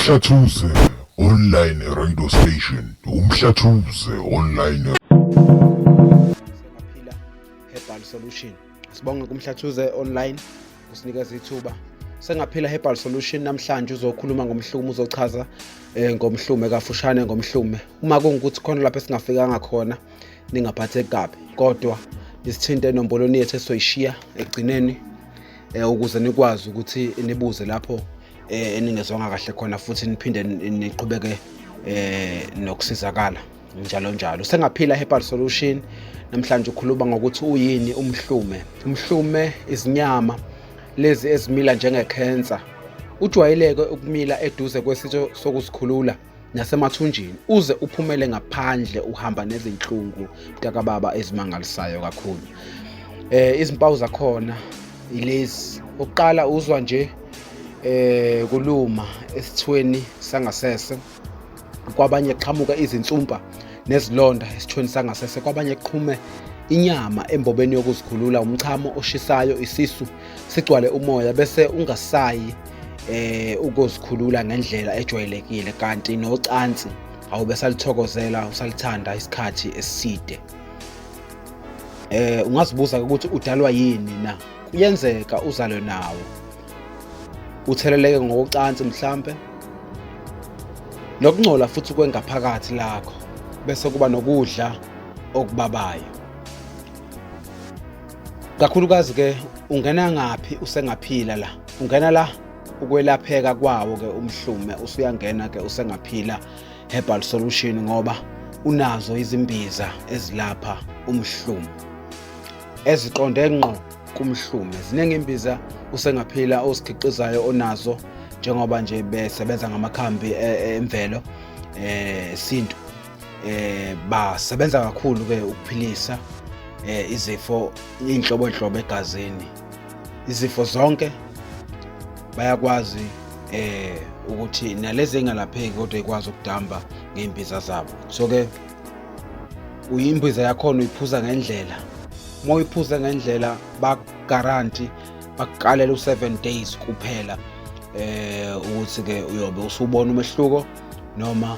Umhlathuze online radio station. Umhlathuze online. Sengaphila Herbal Solution. Sibonge kumhlathuze online usinikeza ithuba. Sengaphila Herbal Solution namhlanje uzokhuluma ngomhlume uzochaza eh, ngomhlume kafushane ngomhlume. Uma kungukuthi khona lapho esingafikanga khona ningaphatheki kabi kodwa nisithinte enombolweni yethu esoyishiya ekugcineni eh, ukuze nikwazi ukuthi nibuze lapho eh, eningezwanga kahle khona futhi niphinde niqhubeke eh, nokusizakala njalo njalo sengaphila herbal solution namhlanje ukhuluma ngokuthi uyini umhlume umhlume izinyama lezi ezimila njengekhensa ujwayeleke ukumila eduze kwesitsho sokusikhulula nasemathunjini uze uphumele ngaphandle uhamba nezinhlungu mntakababa ezimangalisayo kakhulu eh izimpawu zakhona ilezi oqala uzwa nje eh kuluma esithweni sangasese kwabanye qhamuka izinsumpa nezilonda esithweni sangasese kwabanye qhume inyama embobeni yokuzikhulula umchamo oshisayo isisu sigcwale umoya bese ungasayi eh ukuzikhulula ngendlela ejwayelekile kanti nocansi awube salithokozela usalithanda isikhathi eside eh ungazibuza ukuthi udalwa yini na kuyenzeka uzalwe nawo utheleleke ngokucansi mhlambe nokungcola futhi kwengaphakathi lakho bese kuba nokudla okubabayo kakhulukazi ke ungena ngaphi usengaphila la ungena la ukwelapheka kwawo ke umhlume usuyangena ke usengaphila herbal solution ngoba unazo izimbiza ezilapha umhlume eziqonde ngqo kumhlume ziningi imbiza usengaphila osikhiqizayo onazo njengoba nje besebenza ngamakhambi e, e, emvelo eh sintu eh basebenza kakhulu ke ukuphilisa eh izifo inhlobo inhlobo egazini izifo zonke bayakwazi eh ukuthi nalezi engalapheki kodwa ikwazi ukudamba ngeimbiza zabo so ke uyimbiza yakhona uyiphuza ngendlela uma uyiphuza ngendlela baguarantee bakuqalela u7 days kuphela eh ukuthi ke uyobe usubona umehluko noma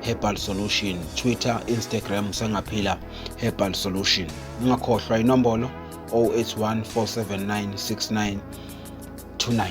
Herbal Solution, Twitter, Instagram Sangaphila Herbal Solution. Ungakhohlwa inombolo 0814796929.